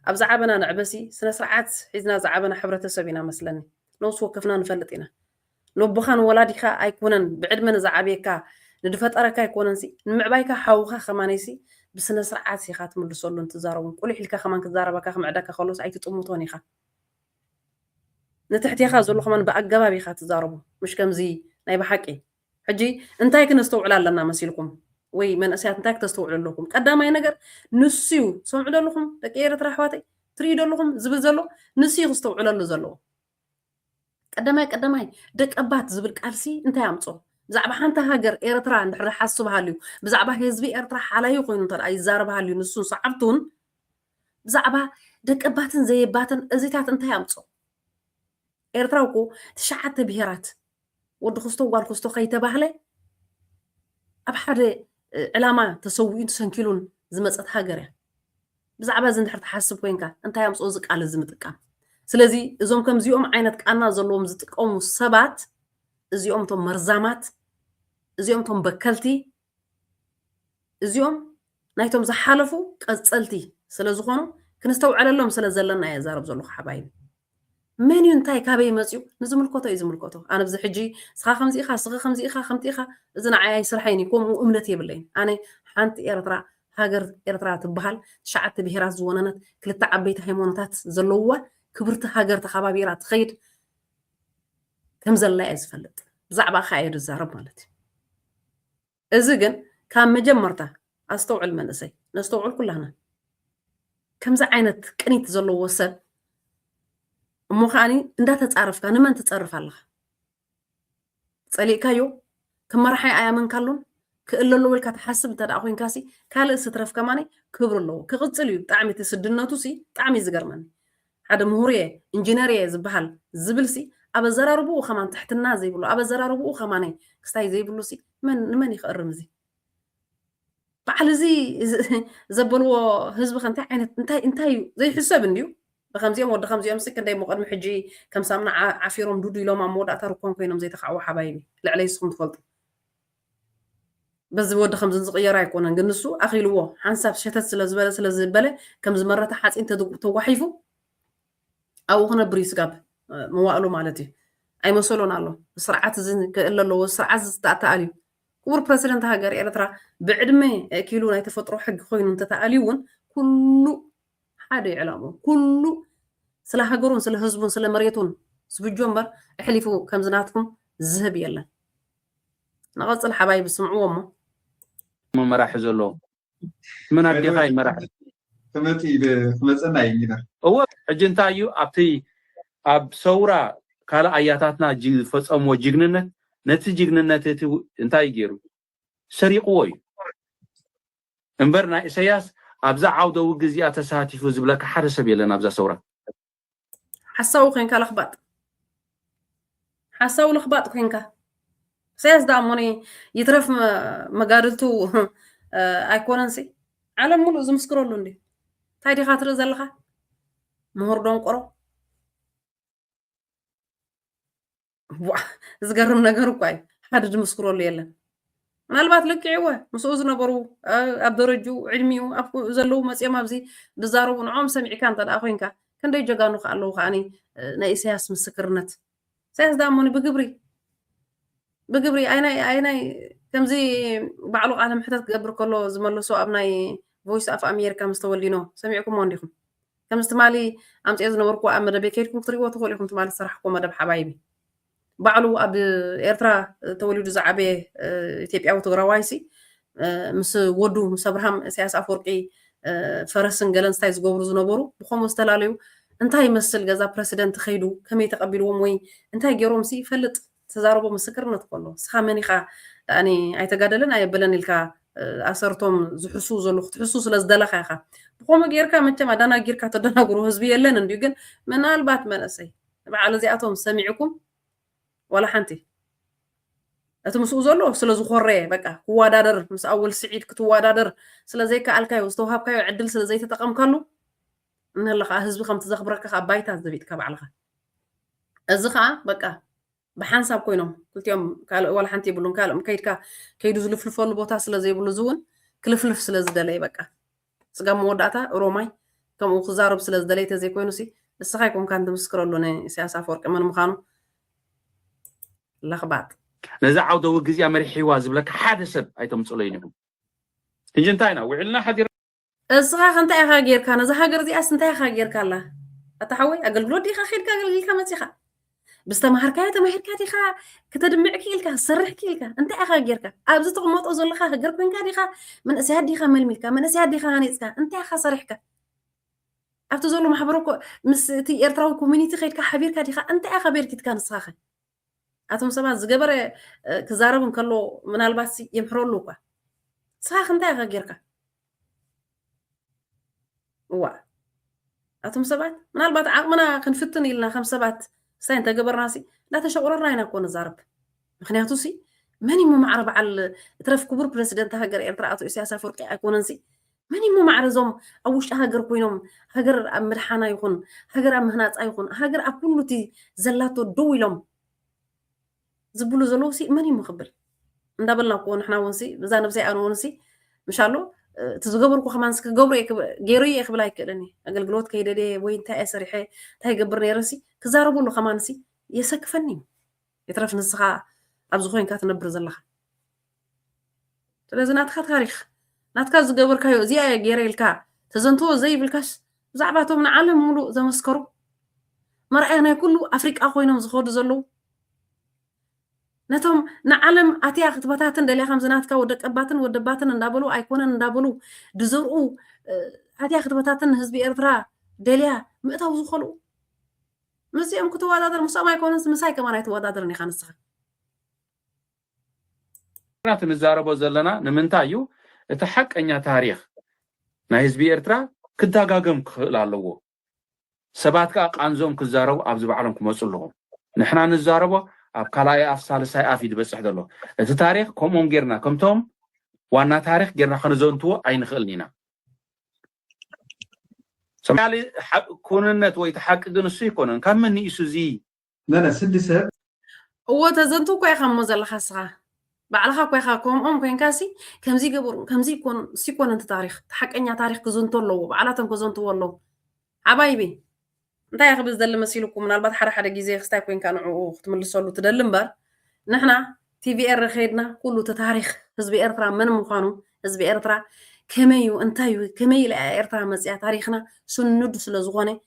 ኣብ ዝዓበና ንዕበሲ ስነ ስርዓት ሒዝና ዝዓበና ሕብረተሰብ ኢና መስለኒ ነውሲ ወከፍና ንፈልጥ ኢና ነቦኻ ንወላዲካ ኣይኮነን ብዕድመ ንዝዓብየካ ንድፈጠረካ ኣይኮነንሲ ንምዕባይካ ሓውካ ከማነይሲ ብስነስርዓት ኢካ ትምልሰሉን ትዛረቡን ቁሊሕ ኢልካ ከማን ክዛረበካ ክምዕደካ ከሎስ ኣይትጥምቶን ኢካ ንትሕቴካ ዘሎ ከማን ብኣገባብ ኢካ ትዛረቡ ምሽ ከምዚ ናይ ብሓቂ ሕጂ እንታይ ክነስተውዕል ኣለና መሲልኩም ወይ መንእሰያት እንታይ ክተስተውዕሉ ኣለኩም ቀዳማይ ነገር ንሱ ሰምዑ ደለኹም ደቂ ኤርትራ ኣሕዋተይ ትርእዩ ደለኹም ዝብል ዘሎ ንሱ ክስተውዕለሉ ዘለዎ ቀዳማይ ቀዳማይ ደቀባት ዝብል ቃልሲ እንታይ ኣምጾ? ብዛዕባ ሓንቲ ሃገር ኤርትራ እንድሕር ዝሓስብ ሃልዩ፣ ብዛዕባ ህዝቢ ኤርትራ ሓላዩ ኮይኑ እንተ ይዛረብ ሃልዩ ንሱን ሰዓብቱን፣ ብዛዕባ ደቀባትን ዘየባትን እዚታት እንታይ ኣምጾ? ኤርትራ እኮ ትሽዓተ ብሄራት ወዲ ክስቶ ጓል ክስቶ ከይተባህለ ኣብ ሓደ ዕላማ ተሰዊኡን ተሰንኪሉን ዝመፀት ሃገር እያ ብዛዕባ እዚ እንድሕር ትሓስብ ኮይንካ እንታይ ኣምፅኦ እዚ ቃል እዚ ምጥቃም ስለዚ እዞም ከምዚኦም ዓይነት ቃና ዘለዎም ዝጥቀሙ ሰባት እዚኦም እቶም መርዛማት እዚኦም እቶም በከልቲ እዚኦም ናይቶም ዝሓለፉ ቀጸልቲ ስለ ዝኾኑ ክንስተውዕለሎም ስለ ዘለና እየ ዛረብ ዘለኹ ሓባይቢ። መን እዩ እንታይ ካበይ መጽዩ ንዝምልከቶ እዩ ዝምልከቶ ኣነ ብዚ ሕጂ ስኻ ከምዚ ኢኻ ስኺ ከምዚ ኢኻ ከምቲ ኢኻ እዚ ንዓይ ኣይስርሐይን እዩ ከምኡ እምነት የብለይን ኣነ ሓንቲ ኤርትራ ሃገር ኤርትራ ትበሃል ትሽዓተ ብሄራት ዝወነነት ክልተ ዓበይቲ ሃይማኖታት ዘለውዋ ክብርቲ ሃገር ተኸባቢራ ትኸይድ ከም ዘላ እየ ዝፈልጥ ብዛዕባኻ እየ ዝዛረብ ማለት እዩ እዚ ግን ካብ መጀመርታ ኣስተውዕል መንእሰይ ነስተውዕል ኩላና ከምዚ ዓይነት ቅኒት ዘለዎ ሰብ እሞ ከዓኒ እንዳተፃረፍካ ንመን ትፀርፍ ኣለኻ ፀሊእካዮ ከም መራሓይ ኣያመንካሉን ክእለሉ ኢልካ ትሓስብ እንተ ደኣ ኮንካ ሲ ካልእስ ይትረፍ ከማን ክብሪ ኣለዎ ክቕጽል እዩ ብጣዕሚ እቲ ስድነቱ ሲ ብጣዕሚ እዩ ዝገርመኒ ሓደ ምሁር እየ እንጂነር እየ ዝበሃል ዝብል ሲ ኣብ ኣዘራርብኡ ከማን ትሕትና ዘይብሉ ኣብ ኣዘራርብኡ ከማን ክስታይ ዘይብሉ ሲ መን ንመን እዩ ክእርም እዚ በዓል እዚ ዘበልዎ ህዝቢ ከ እንታይ ዓይነት እንታይ እንታይ እዩ ዘይሕሰብ እንድዩ ብከምዚኦም ወዲ ከምዚኦምሲ ክንደይ እሞ ቅድሚ ሕጂ ከም ሳምና ዓፊሮም ዱዱ ኢሎም ኣብ መወዳእታ ርኮን ኮይኖም ዘይተካዕዎ ሓባይቢ ልዕለይ ንስኩም ትፈልጡ በዚ ወዲ ከምዚ ዝቅየር ኣይኮነን ግን ንሱ ኣኺልዎ ሓንሳብ ሸተት ስለ ዝበለ ስለ ዝበለ ከም ዝመረተ ሓጺን ተጓሒፉ ኣብኡ ክነብር እዩ ስጋብ መዋእሉ ማለት እዩ ኣይመሰሎን ኣሎ ስርዓት እዚ ክእለ ኣለዎ ስርዓት ዝተኣተኣል እዩ ክቡር ፕረዚደንት ሃገር ኤርትራ ብዕድመ ኪሉ ናይ ተፈጥሮ ሕጊ ኮይኑ እንተተኣልዩ እውን ኩሉ ሓደ እዩ ዕላምኡ ኩሉ ስለ ሃገሩን ስለ ህዝቡን ስለ መሬቱን ዝፍጆ እምበር እሕሊፉ ከምዚ ናትኩም ዝህብ የለን ንቐጽል ሓባይቢ ስምዕዎ እሞ እሞ መራሒ ዘሎ መን ኣዴኻ እዩ መራሒ ክመጽእ ኢለ ክመጸና እዩ ኢለ እወ ሕጂ እንታይ እዩ ኣብቲ ኣብ ሰውራ ካልእ ኣያታትና ጅ- ዝፈጸምዎ ጅግንነት ነቲ ጅግንነት እቲ እንታይ እዩ ገይሩ ሰሪቕዎ እዩ እምበር ናይ እሰያስ ኣብዛ ዓውደ ውግ እዚኣ ተሳቲፉ ዝብለካ ሓደ ሰብ የለን ኣብዛ ሰውራ። ሓሳዊ ኮንካ ለኽባጥ ሓሳዊ ለኽባጥ ኮንካ ኢሳያስ ደኣ ሞኒ ይትረፍ መጋድልቱ ኣይኮነንሲ ዓለም ሙሉእ ዝምስክረሉ እንዲ እንታይ ዲኻ ትርኢ ዘለኻ ምሁር ደንቆሮ ዝገርም ነገር እኳ እዩ ሓደ ዝምስክረሉ የለን ምናልባት ልክዕወ ምስኡ ዝነበሩ ኣብ ደረጅኡ ዕድሚኡ ዘለዉ መፅኦም ኣብዚ ዝዛረቡ ንዖም ሰሚዕካ እንተ ኮንካ ክንደይ ጀጋኑ ከዓ ኣለዉ ከዓ ናይ ኢሳያስ ምስክርነት ኢሳያስ ዳሞኒ ብግብሪ ብግብሪ ኣይናይ ከምዚ ባዕሉ ቃለ ምሕተት ክገብር ከሎ ዝመለሶ ኣብ ናይ ቮይስ ኣፍ ኣሜሪካ ምስ ተወሊኖ ሰሚዕኩሞ እንዲኹም ከምዚ ትማሊ ኣምጺኤ ዝነበርኩዎ ኣብ መደበይ ከይድኩም ክትሪእዎ ትኽእሉ ኢኹም ትማሊ ዝሰራሕኩዎ መደብ ሓባይቢ ባዕሉ ኣብ ኤርትራ ተወሊዱ ዝዓበየ ኢትዮጵያዊ ትግራዋይሲ ምስ ወዱ ምስ ኣብርሃም ኢሳያስ ኣፈወርቂ ፈረስን ገለን ስታይ ዝገብሩ ዝነበሩ ብከምኡ ዝተፈላለዩ እንታይ ይመስል ገዛ ፕረሲደንት ከይዱ ከመይ ተቐቢልዎም ወይ እንታይ ገይሮም ሲ ይፈልጥ ዝተዛረቦ ምስክርነት እኮ ኣሎ ንስኻ መን ኢኻ ዳኣኒ ኣይተጋደለን ኣየበለን ኢልካ ኣሰርቶም ዝሕስው ዘሉ ክትሕሱ ስለ ዝደለኻ ኢኻ ብኸምኡ ጌርካ መቸም ኣዳናጊርካ ተደናግሮ ህዝቢ የለን እንድዩ ግን ምናልባት መንእሰይ በዓል እዚኣቶም ሰሚዕኩም ዋላ ሓንቲ እቲ ምስኡ ዘሎ ስለ ዝኾረየ በቃ ክወዳደር ምስ ኣወል ስዒድ ክትወዳደር ስለ ዘይከኣልካዮ ዝተውሃብካዮ ዕድል ስለ ዘይተጠቐምካሉ እንሀለ ከዓ ህዝቢ ከምቲ ዘኽብረካ ከዓ ባይታ ዘቢጥካ ባዕልኻ እዚ ከዓ በቃ ብሓንሳብ ኮይኖም ክልቲኦም ካልእ ዋላ ሓንቲ የብሉን ካልእ ከይድካ ከይዱ ዝልፍልፈሉ ቦታ ስለ ዘይብሉ እዚ እውን ክልፍልፍ ስለ ዝደለየ በቃ ስጋብ መወዳእታ ሮማይ ከምኡ ክዛረብ ስለ ዝደለየ ተዘይኮይኑ ሲ ንስኻ ይኮንካን ትምስክረሉ ንኢሳያስ ኣፈወርቂ መን ምዃኑ ለኽባጥ ነዚ ዓውደ ውግእ እዚኣ መሪሕዋ ዝብለካ ሓደ ሰብ ኣይተምፅለይን ኢኹም ሕጂ እንታይ ኢና ውዒልና ሓዲር እስኻ ከ እንታይ ኢኻ ጌርካ ነዛ ሃገር እዚኣስ እንታይ ኢኻ ጌርካላ ኣታ ሓወይ ኣገልግሎት ዲኻ ኬድካ ኣገልግልካ መጺኻ ብዝተማሃርካዮ ተማሂርካ ዲኻ ክተድምዕ ክኢልካ ክሰርሕ ክኢልካ እንታይ ኢኻ ጌርካ ኣብዚ ትቕመጦ ዘለኻ ሃገር ኮንካ ዲኻ መንእሰያት ዲኻ መልሚልካ መንእሰያት ዲኻ ሃኒፅካ እንታይ ኢኻ ሰሪሕካ ኣብቲ ዘሎ ማሕበረ ምስ እቲ ኤርትራዊ ኮሚኒቲ ከይድካ ሓቢርካ ዲኻ እንታይ ኢኻ ቤርኪትካ ንስኻ ኣቶም ሰባት ዝገበረ ክዛረብ እንከሎ ምናልባት የምሕረሉ እኳ ንስኻኽ እንታይ ኢኻ ጌርካ እዋ ኣቶም ሰባት ምናልባት ዓቕምና ክንፍትን ኢልና ከም ሰባት ስታይ እንተገበርና ሲ እንዳተሸቑረርና ኢና እኮ ንዛረብ ምክንያቱ ሲ መን እዩ መማዕረ በዓል እትረፍ ክቡር ፕረዚደንት ሃገር ኤርትራ ኣቶ ኢሳያስ ኣፈወርቂ ኣይኮነን ሲ መን እዩሞ ማዕረ እዞም ኣብ ውሽጢ ሃገር ኮይኖም ሃገር ኣብ ምድሓና ይኹን ሃገር ኣብ ምህናፃ ይኹን ሃገር ኣብ ኩሉ እቲ ዘላቶ ደው ኢሎም ዝብሉ ዘለዉ ሲ መን እዩሞ ክብል እንዳበልና እኮ ንሕና እውን ሲ እዛ ነብሰይ ኣነ እውን ሲ ምሻሎ እቲ ዝገበርኩ ከማን ክገብሮ ገይሩ እየ ክብል ኣይክእልን እየ ኣገልግሎት ከይደደ ወይ እንታይ እየ ሰሪሐ እንታይ ይገብር ነይረ ሲ ክዛረበሉ ከማን ሲ የሰክፈኒ እዩ የትረፍ ንስኻ ኣብዚ ኮይንካ ትነብር ዘለኻ ስለዚ ናትካ ታሪክ ናትካ ዝገበርካዮ እዚኣ እየ ገይረ ኢልካ ተዘንትዎ ዘይብልካስ ብዛዕባ እቶም ንዓለም ሙሉእ ዘመስከሩ መርኣያ ናይ ኩሉ ኣፍሪቃ ኮይኖም ዝኸዱ ዘለዉ ነቶም ንዓለም ኣትያ ክትበታትን ደልያ ከምዚ ናትካ ወደቀባትን ወደባትን እንዳበሉ ኣይኮነን እንዳበሉ ድዘርኡ ኣትያ ክትበታትን ንህዝቢ ኤርትራ ደልያ ምእታው ዝኸልኡ ምስዚኦም ክትወዳደር ምስኦም ኣይኮነንስ ምሳይ ከማን ኣይትወዳደርን ኢኻ ንስኻ ንሕና እቲ ንዛረቦ ዘለና ንምንታይ እዩ እቲ ሓቀኛ ታሪኽ ናይ ህዝቢ ኤርትራ ክዳጋገም ክኽእል ኣለዎ ሰባት ከኣ ቃንዞኦም ክዛረቡ ኣብዚ ባዕሎም ክመጹ ኣለዎም ንሕና ንዛረቦ ኣብ ካልኣይ ኣፍ ሳልሳይ ኣፍ እዩ ዝበጽሕ ዘሎ እቲ ታሪኽ ከምኦም ጌርና ከምቶም ዋና ታሪኽ ጌርና ከንዘንትዎ ኣይንኽእልን ኢና ሰማያሊ ኩንነት ወይ ተሓቂ ግን እሱ ኣይኮነን ካብ መን ንኢሱ እዚ መነ ስዲ ሰብ እዎ ተዘንቱ እኮ ኢኻ እሞ ዘለኻ እስኻ ባዕልኻ እኮ ኢኻ ከምኦም ኮንካሲ ከምዚ ገበሩ ከምዚ ኮኑ ሲኮነ እቲ ታሪክ ሓቀኛ ታሪክ ክዝንቶ ኣለዎ ባዕላቶም ከዘንትዎ ኣለዎ ሓባይቢ እንታይ እየ ክብል ዝደሊ መሲልኩ ምናልባት ሓደ ሓደ ግዜ ክስታይ ኮንካ ንዕኡ ክትምልሰሉ ትደሊ እምበር ንሕና ቲቪ ኤረ ከይድና ኩሉ እቲ ታሪክ ህዝቢ ኤርትራ መን ምዃኑ ህዝቢ ኤርትራ ከመይ እዩ እንታይ እዩ ከመይ ኢላ ኤርትራ መፅያ ታሪክና ስኑድ ስለ ዝኾነ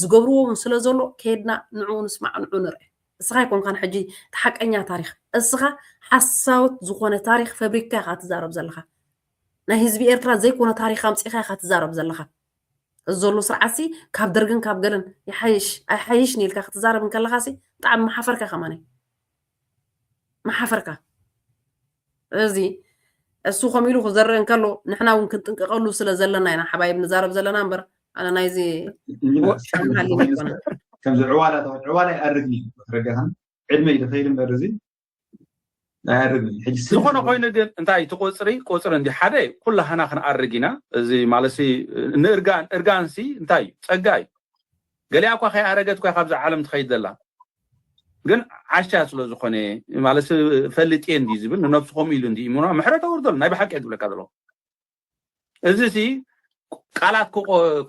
ዝገብርዎ ውን ስለ ዘሎ ኬድና ንዑኡ ንስማዕ ንዑኡ ንርእ እስኻ ኣይኮንካን ሕጂ እቲ ሓቀኛ ታሪኽ እስኻ ሓሳውት ዝኾነ ታሪኽ ፈብሪካ ኢኻ ትዛረብ ዘለኻ ናይ ህዝቢ ኤርትራ ዘይኮነ ታሪኽ ኣምጺኻ ኢኻ ትዛረብ ዘለኻ እዚ ዘሎ ስርዓትሲ ካብ ደርግን ካብ ገለን ይሓይሽ ኣይሓይሽ ንኢልካ ክትዛረብ እንከለኻሲ ብጣዕሚ መሓፈርካ ከማኒ መሓፈርካ እዚ እሱ ከም ኢሉ ክዘርእ እንከሎ ንሕና እውን ክንጥንቀቀሉ ስለ ዘለና ኢና ሓባይብ ንዛረብ ዘለና እምበር ኣነ ናይዚ ከምዚ ዕዋላ ዕዋላ ይኣርግኒ ረጋኸን ዕድመ ኢሉ ከይድ እምበር እዚ ኣይኣርግኒ ዝኾነ ኮይኑ ግን እንታይ እቲ ቆፅሪ ቆፅሪ እንዲ ሓደ ኩላህና ክንኣርግ ኢና እዚ ማለት እርጋን እርጋንሲ እንታይ እዩ ፀጋ እዩ ገሊኣ እኳ ከይኣረገት እኳ ካብዛ ዓለም ትኸይድ ዘላ ግን ዓሻ ስለ ዝኾነ ማለት ፈልጥ እየ እንዲ ዝብል ንነብሱ ከምኡ ኢሉ እንዲ እምኖ ምሕረት ኣውርደሉ ናይ ብሓቂ እየ ዝብለካ ዘለኹ እዚ ሲ ቃላት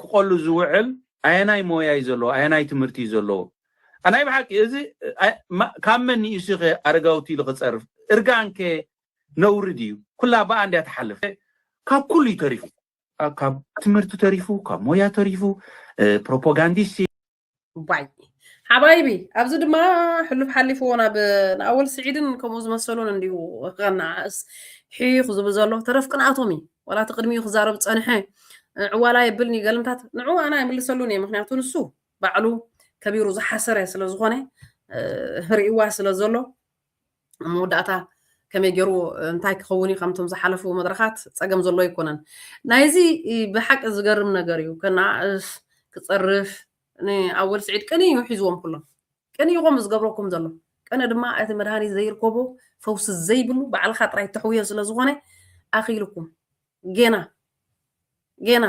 ክቆሉ ዝውዕል ኣየናይ ሞያ እዩ ዘለዎ ኣየናይ ትምህርቲ እዩ ዘለዎ ናይ ብሓቂ እዚ ካብ መን ንኢሱ ከ ኣረጋውቲ ኢሉ ክፀርፍ እርጋን ከ ነውሪ ድዩ ኩላ ብኣ እንድያ ትሓልፍ ካብ ኩሉ እዩ ተሪፉ ካብ ትምህርቲ ተሪፉ ካብ ሞያ ተሪፉ ፕሮፓጋንዲስት ባይ ሓባይቢ ኣብዚ ድማ ሕሉፍ ሓሊፍዎ ናብ ንኣወል ስዒድን ከምኡ ዝመሰሉን እንዲሁ ከነኣእስ ሒኽ ዝብል ዘሎ ተረፍ ቅንኣቶም እዩ ዋላ እቲ ቅድሚኡ ክዛረብ ፀንሐ ዕዋላ የብልኒ ገልምታት ንዑ ኣና ይምልሰሉን እየ ምክንያቱ ንሱ ባዕሉ ከቢሩ ዝሓሰረ ስለ ዝኾነ ርእዋ ስለ ዘሎ ኣብ መወዳእታ ከመይ ገይሩ እንታይ ክኸውን እዩ ከምቶም ዝሓለፉ መድረኻት ፀገም ዘሎ ኣይኮነን ናይዚ ብሓቂ ዝገርም ነገር እዩ ከነኣእስ ክፀርፍ ንኣወል ስዒድ ቅኒ እዩ ሒዝዎም ኩሎም ቅኒ ይኾም ዝገብረኩም ዘሎ ቅኒ ድማ እቲ መድሃኒት ዘይርከቦ ፈውሲ ዘይብሉ ባዕልካ ጥራይ ተሕውዮ ስለ ዝኾነ ኣኺልኩም ጌና ጌና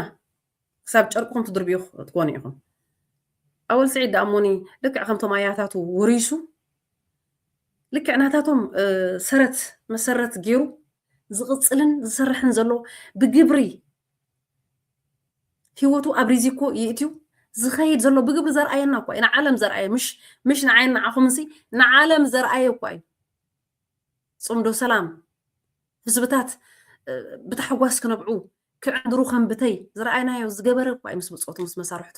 ክሳብ ጨርቅኹም ትድርብዩ ክትኮኑ ኢኹም። ኣወል ስዒድ ደኣ እሞኒ ልክዕ ከምቶም ኣያታቱ ወሪሱ ልክዕ ናታቶም ሰረት መሰረት ገይሩ ዝቕፅልን ዝሰርሕን ዘሎ ብግብሪ ህይወቱ ኣብ ሪዚኮ ይእትዩ ዝኸይድ ዘሎ ብግብሪ ዘርኣየና እኳ እዩ ንዓለም ዘርኣየ ምሽ ምሽ ንዓይን ንዓኹምንሲ ንዓለም ዘርኣየ እኳ እዩ ፅምዶ ሰላም ህዝብታት ብታሕጓስ ክነብዑ ክዕንድሩ ከም ብተይ ዝረኣይናዮ ዝገበረ እኳ እዩ ምስ ብጾቱ ምስ መሳርሕቱ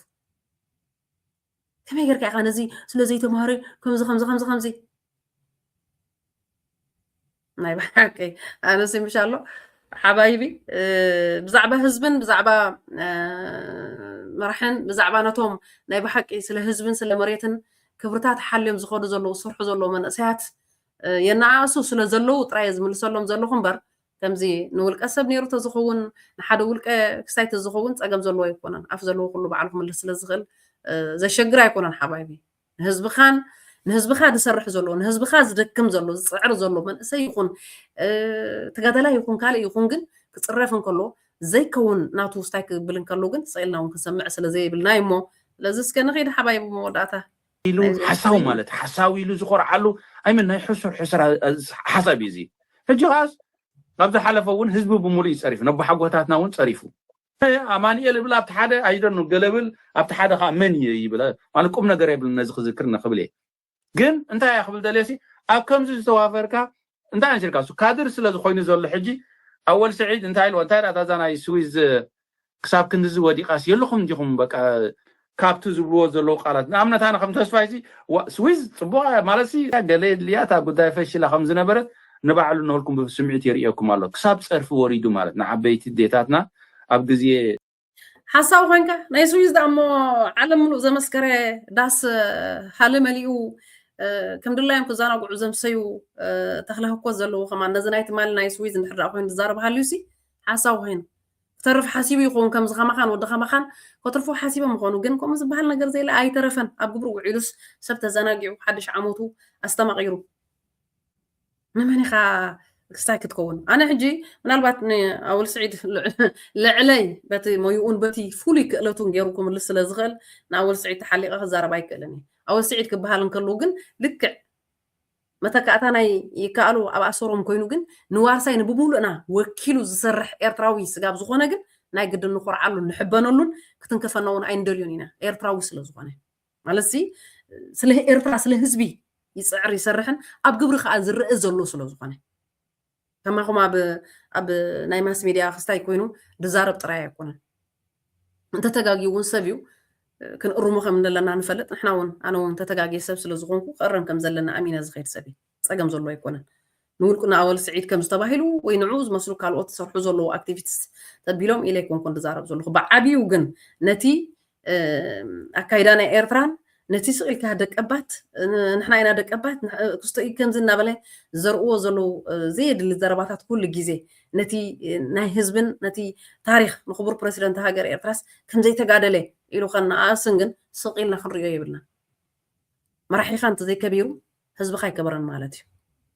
ከመይ ጌርካ ኢኻ ነዚ ስለ ዘይተማሃረ ከምዚ ከምዚ ከምዚ ከምዚ ናይ ብሓቂ ኣነሲ ምሽ ኣሎ ሓባይቢ ብዛዕባ ህዝብን ብዛዕባ መራሕን ብዛዕባ ነቶም ናይ ብሓቂ ስለ ህዝብን ስለ መሬትን ክብርታት ሓልዮም ዝኸዱ ዘለዉ ዝስርሑ ዘለዉ መንእሰያት የነኣእሱ ስለ ዘለዉ ጥራይ ዝምልሰሎም ዘለኹ እምበር ከምዚ ንውልቀ ሰብ ኔሩ ተዝኽውን ንሓደ ውልቀ ክስታይ ተዝኸውን ጸገም ዘለዎ ኣይኮነን ኣፍ ዘለዎ ኩሉ ባዕሉ ክምልስ ስለ ዝኽእል ዘሸግር ኣይኮነን ሓባይቢ ንህዝብኻን ንህዝብኻ ዝሰርሕ ዘሎ ንህዝብኻ ዝደክም ዘሎ ዝጽዕር ዘሎ መንእሰይ ይኹን ተጋዳላይ ይኹን ካልእ ይኹን ግን ክጽረፍ እንከሎ ዘይከውን ናቱ ውስታይ ክብል እንከሎ ግን ስኢልና እውን ክንሰምዕ ስለ ዘይብልና እዩ እሞ ስለዚ እስከ ንኸይድ ሓባይ መወዳእታ ኢሉ ሓሳዊ ማለት ሓሳዊ ኢሉ ዝኾርዓሉ ኣይመን ናይ ሕሱር ሕሱር ሓሳብ እዩ እዚ ሕጂ ከዓስ ካብ ዝሓለፈ እውን ህዝቢ ብምሉእ እዩ ፀሪፉ ነቦሓጎታትና እውን ፀሪፉ ኣማንኤል እብል ኣብቲ ሓደ ኣይደኑ ገለ ብል ኣብቲ ሓደ ከዓ መን እየ ይብል ማለት ቁም ነገር የብልን ነዚ ክዝክር ንክብል እየ ግን እንታይ እያ ክብል ደልየሲ ኣብ ከምዚ ዝተዋፈርካ እንታይ ነሲርካ እሱ ካድር ስለ ዝኮይኑ ዘሎ ሕጂ ኣወል ስዒድ እንታይ ኢልዎ እንታይ ዳኣ እዛ ናይ ስዊዝ ክሳብ ክንድዚ ወዲቃስ የለኹም እንዲኹም በቃ ካብቲ ዝብልዎ ዘለዉ ቃላት ንኣብነት ኣነ ከም ተስፋይ ሲ ዋ ስዊዝ ጽቡቅ እያ ማለት ሲ ገለ የድልያ እታ ጉዳይ ፈሽላ ከም ዝነበረት ንባዕሉ ንህልኩም ብስምዒት የርእየኩም ኣሎ ክሳብ ጸርፊ ወሪዱ ማለት ንዓበይቲ ዴታትና ኣብ ግዜ ሓሳዊ ኮንካ ናይ ስዊዝ ዳ እሞ ዓለም ምሉእ ዘመስከረ ዳስ ሃሊ መሊኡ ከም ድላዮም ክዘናግዑ ዘምሰዩ ተክለ ህኮት ዘለዎ ከማ ነዚ ናይ ትማሊ ናይ ስዊዝ እንድሕር ዳ ኮይኑ ዝዛረብ ሃልዩ ሲ ሓሳዊ ኮይኑ ክተርፍ ሓሲቡ ይኸውን ከምዚ ከማኻን ወዲ ከማኻን ከትርፎ ሓሲቦም ይኾኑ ግን ከምኡ ዝበሃል ነገር ዘይለ ኣይተረፈን ኣብ ግብሪ ውዒሉስ ሰብ ተዘናጊዑ ሓድሽ ዓመቱ ኣስተማቒሩ ንመን ኢኻ ክስታይ ክትከውን ኣነ ሕጂ ምናልባት ንኣወል ስዒድ ልዕለይ በቲ ሞይኡን በቲ ፍሉይ ክእለቱን ገይሩ ክምልስ ስለ ዝኽእል ንኣወል ስዒድ ተሓሊቐ ክዛረብ ኣይክእልን እዩ ኣወል ስዒድ ክበሃል እንከለዉ ግን ልክዕ መተካእታ ናይ ይከኣሉ ኣብ ኣሰሮም ኮይኑ ግን ንዋርሳይ ንብምሉእና ወኪሉ ዝሰርሕ ኤርትራዊ ስጋብ ዝኾነ ግን ናይ ግድን ንኾርዓሉን ንሕበነሉን ክትንከፈና እውን ኣይንደልዮን ኢና ኤርትራዊ ስለ ዝኾነ ማለትሲ ስለ ኤርትራ ስለ ህዝቢ ይፅዕር ይሰርሕን ኣብ ግብሪ ከዓ ዝረአ ዘሎ ስለ ዝኾነ ከማኹም ኣብ ናይ ማስ ሚድያ ክስታይ ኮይኑ ድዛረብ ጥራይ ኣይኮነን እንተተጋግዩ እውን ሰብ እዩ ክንእርሞ ከም ዘለና ንፈልጥ ንሕና እውን ኣነ እውን ተተጋግየ ሰብ ስለ ዝኾንኩ ክእረም ከም ዘለና ኣሚነ ዝኸይድ ሰብ እዩ ጸገም ዘሎ ኣይኮነን። ንውልቅና ኣወል ስዒድ ከም ዝተባሂሉ ወይ ንዕኡ ዝመስሉ ካልኦት ዝሰርሑ ዘለዉ ኣክቲቪትስ ተቢሎም ኢለ ኣይኮንኩን ዝዛረብ ዘለኹ። ብዓብዩ ግን ነቲ ኣካይዳ ናይ ኤርትራን ነቲ ስቕ ኢልካ ደቀባት ንሕና ኢና ደቀባት ክስቶ እዩ ከምዚ እናበለ ዘርእዎ ዘለዉ ዘየድሊ ዘረባታት ኩሉ ግዜ ነቲ ናይ ህዝብን ነቲ ታሪክ ንክቡር ፕረሲደንት ሃገር ኤርትራስ ከምዘይተጋደለ ኢሉ ከነኣእስን ግን ስቕ ኢልና ክንሪኦ የብልና መራሒኻ እንተዘይከቢሩ ህዝብኻ ኣይከበረን ማለት እዩ።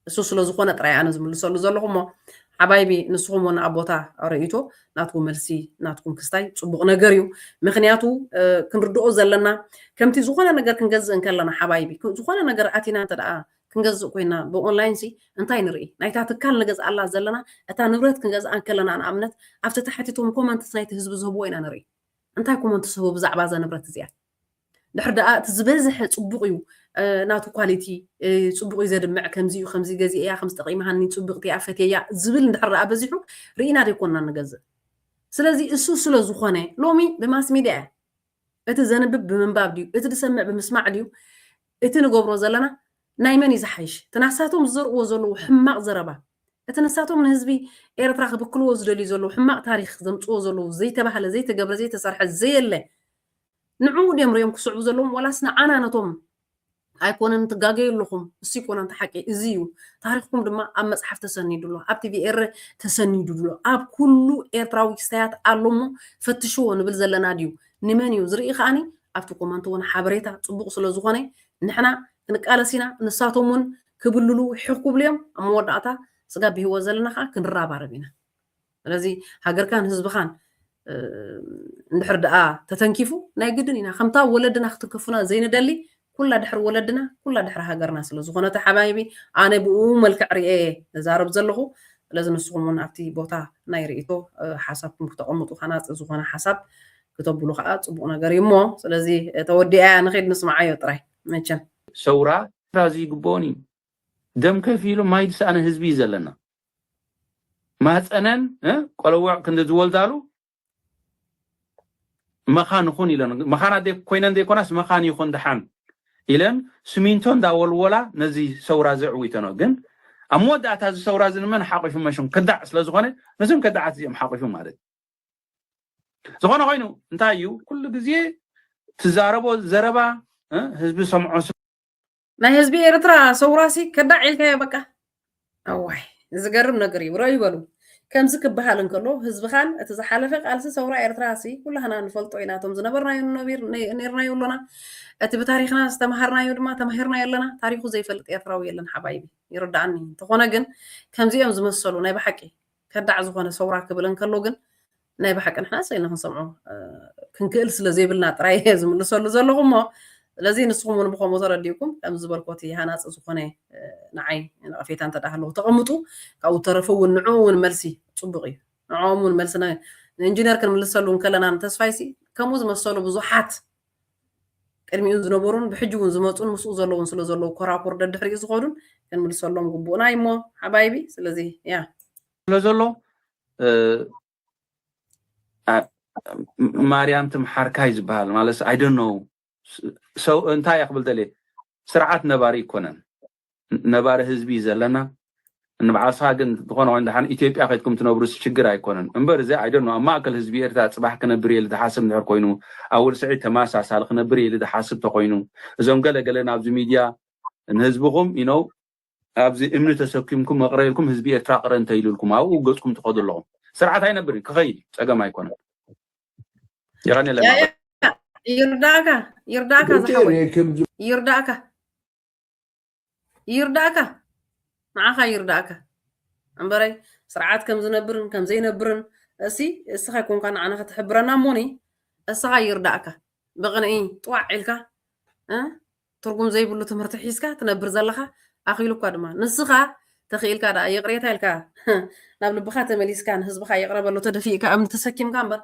እሱ ስለ ዝኾነ ጥራይ ኣነ ዝምልሰሉ ዘለኹ እሞ ሓባይቢ ንስኹም ውን ኣብ ቦታ ርእይቶ ናትኩም መልሲ ናትኩም ክስታይ ጽቡቕ ነገር እዩ። ምክንያቱ ክንርድኦ ዘለና ከምቲ ዝኾነ ነገር ክንገዝእ እንከለና ሓባይቢ ዝኾነ ነገር ኣቲና እንተ ደኣ ክንገዝእ ኮይና ብኦንላይን ሲ እንታይ ንርኢ ናይታ ትካል ንገዝኣላ ዘለና እታ ንብረት ክንገዝኣ እንከለና ንኣብነት ኣብቲ ታሕቲቶም ኮመንትስ ናይቲ ህዝቢ ዝህብዎ ኢና ንርኢ እንታይ ኮመንትስ ህቡ ብዛዕባ እዛ ንብረት እዚኣ ድሕር ደኣ እቲ ዝበዝሐ ጽቡቕ እዩ ናቱ ኳሊቲ ጽቡቕ እዩ ዘድምዕ ከምዚ እዩ ከምዚ ገዚእ እያ ከምዚ ጠቒማሃኒ ጽቡቕቲ እያ ፈትየያ ዝብል እንድሕር ደኣ በዚሑ ርኢና ደይኮንና ንገዝእ ስለዚ እሱ ስለ ዝኾነ ሎሚ ብማስ ሚድያ እያ እቲ ዘንብብ ብምንባብ ድዩ እቲ ዝሰምዕ ብምስማዕ ድዩ እቲ ንገብሮ ዘለና ናይ መን እዩ ዝሓይሽ እቲ ናሳቶም ዝዘርእዎ ዘለዉ ሕማቕ ዘረባ እቲ ንሳቶም ንህዝቢ ኤርትራ ክብክልዎ ዝደልዩ ዘለዉ ሕማቕ ታሪክ ዘምፅዎ ዘለዉ ዘይተባህለ ዘይተገብረ ዘይተሰርሐ ዘየለ ንዕኡ ድዮም ሪኦም ክስዕቡ ዘለዎም ዋላስ ንዓና ነቶም ኣይኮነን ትጋገዩ ኣለኹም እሱ ይኮነ ኣንተ ሓቂ እዚ እዩ ታሪኽኩም ድማ ኣብ መጽሓፍ ተሰኒዱ ኣሎ ኣብ ቲቪ ኤረ ተሰኒዱ ኣሎ ኣብ ኩሉ ኤርትራዊ ክስታያት ኣሎ እሞ ፈትሽዎ ንብል ዘለና ድዩ ንመን እዩ ዝርኢ ከዓኒ ኣብቲ ኮመንት እውን ሓበሬታ ጽቡቕ ስለ ዝኾነ ንሕና ክንቃለስ ኢና ንሳቶም እውን ክብልሉ ሕኽ ክብሉ እዮም ኣብ መወዳእታ ስጋ ብህይወት ዘለና ከዓ ክንራባረብ ኢና ስለዚ ሃገርካን ህዝብኻን እንድሕር ደኣ ተተንኪፉ ናይ ግድን ኢና ከምታ ወለድና ክትንከፉና ዘይንደሊ ኩላ ድሕሪ ወለድና ኩላ ድሕሪ ሃገርና ስለ ዝኾነተ ሓባይቢ ኣነ ብኡ መልክዕ ርኤ ዛረብ ዘለኹ ስለዚ ንስኹም እውን ኣብቲ ቦታ ናይ ርእቶ ሓሳብኩም ክተቐምጡ ሃናፂ ዝኾነ ሓሳብ ክተብሉ ከዓ ፅቡቕ ነገር እዩ እሞ ስለዚ ተወዲኣ እያ ንኸይድ ንስምዓዮ ጥራይ መቸም ሰውራ እዚ ይግብኦን እዩ ደም ከፊሉ ማይ ዝሰኣነ ህዝቢ እዩ ዘለና ማህፀነን ቆልውዕ ክንዲ ዝወልዳሉ መኻን ኹን ኢለን መኻና ኮይነን ዘይኮናስ መኻን ይኹን ድሓን ኢለን ስሚንቶ እንዳወልወላ ነዚ ሰውራ ዘዕዊተኖ ግን ኣብ መወዳእታ እዚ ሰውራ እዚ ንመን ሓቂፉ መሽም ከዳዕ ስለ ዝኾነ ነዞም ከዳዓት እዚኦም ሓቂፉ ማለት ዝኾነ ኮይኑ እንታይ እዩ ኩሉ ግዜ ትዛረቦ ዘረባ ህዝቢ ሰምዖ ናይ ህዝቢ ኤርትራ ሰውራሲ ከዳዕ ኢልካዮ በቃ ኣዋይ ዝገርም ነገር እዩ ረዩ በሉ ከምዚ ክበሃል እንከሎ ህዝብኻን እቲ ዝሓለፈ ቃልሲ ሰውራ ኤርትራ ሲ ኩላህና ንፈልጦ ኢና እቶም ዝነበርናዮ ነቢር ነርናዮ ኣሎና እቲ ብታሪክና ዝተምሃርናዮ ድማ ተማሂርናዮ ኣለና ታሪኩ ዘይፈልጥ ኤርትራዊ የለን ሓባይቢ ይርዳእኒ እንተኾነ ግን ከምዚኦም ዝመሰሉ ናይ ብሓቂ ከዳዕ ዝኾነ ሰውራ ክብል እንከሎ ግን ናይ ብሓቂ ንሕና ሰይና ክንሰምዖ ክንክእል ስለ ዘይብልና ጥራይ እየ ዝምልሰሉ ዘለኹ እሞ ስለዚ ንስኹም እውን ብከምኡ ተረዲእኩም ከም ዝበልኮ እቲ ሃናፂ ዝኾነ ንዓይ ነቐፌታ እንተ ሃለዎ ተቐምጡ ካብኡ ተረፈ እውን ንዕኡ እውን መልሲ ፅቡቕ እዩ ንዕኦም እውን መልሲ ንኢንጂነር ክንምልሰሉ እንከለና ንተስፋይሲ ከምኡ ዝመሰሉ ብዙሓት ቅድሚኡ ዝነበሩን ብሕጂ ውን ዝመጹን ምስኡ ዘለዉን ስለ ዘለዉ ኮራኩር ደድሕሪኡ ዝኸዱን ክንምልሰሎም ግቡእና እዩሞ ሓባይቢ ስለዚ ያ ስለ ዘሎ ማርያም ትምሓርካይ ዝበሃል ማለት ኣይ ዶንት ኖው ሰው እንታይ እያ ክብል ደልየ ስርዓት ነባሪ ኣይኮነን ነባሪ ህዝቢ እዩ ዘለና ንብዓልስኻ ግን ዝኾነ ኮይኑ ድሓን ኢትዮጵያ ከድኩም ትነብሩስ ችግር ኣይኮነን እምበር እዚ ኣይ ዶኖ ኣብ ማእከል ህዝቢ ኤርትራ ጽባሕ ክነብር እየ ኢሊ ዝሓስብ እንድሕር ኮይኑ ኣወል ስዒድ ተመሳሳሊ ክነብር እየ ኢሊ ዝሓስብ ተኮይኑ እዞም ገለ ገለ ናብዚ ሚድያ ንህዝብኹም ኢኖው ኣብዚ እምኒ ተሰኪምኩም መቕረ ኢልኩም ህዝቢ ኤርትራ ቅረ እንተ ኢሉልኩም ኣብኡ ገጽኩም ትኸዱ ኣለኹም ስርዓት ኣይነብርን ክኸይድ እዩ ጸገም ኣይኮነን የቐኔለና ይርዳእካ ይርዳእካ ዝሓወይ ይርዳእካ ይርዳእካ ንዓኻ ይርዳእካ እምበረይ ስርዓት ከም ዝነብርን ከም ዘይነብርን እሲ እስኻ ይኮንካ ንዓና ክትሕብረና እሞኒ እስኻ ይርዳእካ ብቕንዒ ጥዋዕ ኢልካ ትርጉም ዘይብሉ ትምህርቲ ሒዝካ ትነብር ዘለኻ ኣኺሉ እኳ ድማ ንስኻ ተኽኢልካ ደኣ ይቕሬታ ኢልካ ናብ ልብኻ ተመሊስካ ንህዝብኻ ይቕረበሉ ተደፊእካ እምኒ ተሰኪምካ እምበር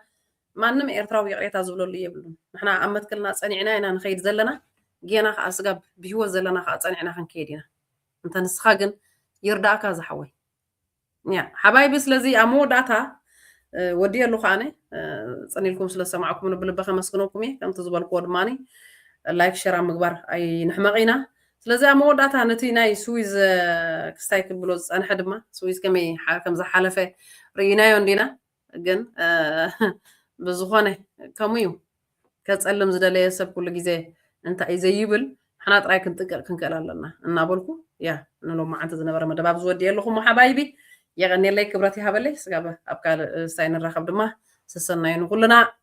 ማንም ኤርትራዊ ይቅሬታ ዝብለሉ የብሉን ንሕና ኣብ መትከልና ጸኒዕና ኢና ንከይድ ዘለና ጌና ከኣ ስጋብ ብሂወት ዘለና ከኣ ጸኒዕና ክንከይድ ኢና እንተ ንስካ ግን ይርዳእካ ዝሓወይ ያ ሓባይቢ ስለዚ ኣብ መወዳእታ ወዲየ ኣለኹ ኣነ ጽን ኢልኩም ስለ ዝሰማዕኩም ንብልበ ከመስግነኩም እየ ከምቲ ዝበልክዎ ድማ ላይክ ሸር ኣብ ምግባር ኣይንሕመቕ ኢና ስለዚ ኣብ መወዳእታ ነቲ ናይ ስዊዝ ክስታይ ክብሎ ዝፀንሐ ድማ ስዊዝ ከመይ ከም ዝሓለፈ ርኢናዮ እንዲና ግን ብዝኾነ ከምኡ እዩ ከፀልም ዝደለየ ሰብ ኩሉ ግዜ እንታይ እዩ ዘይብል ንሕና ጥራይ ክንጥንቀቕ ክንክእል ኣለና እናበልኩ ያ ንሎም መዓልቲ ዝነበረ መደብ ኣብዚ ወዲእ ኣለኹ ሓባይቢ የቐኔለይ ክብረት ይሃበለይ ስጋብ ኣብ ካልእ ሳይ ንራኸብ ድማ ሰሰናዩ ንኩልና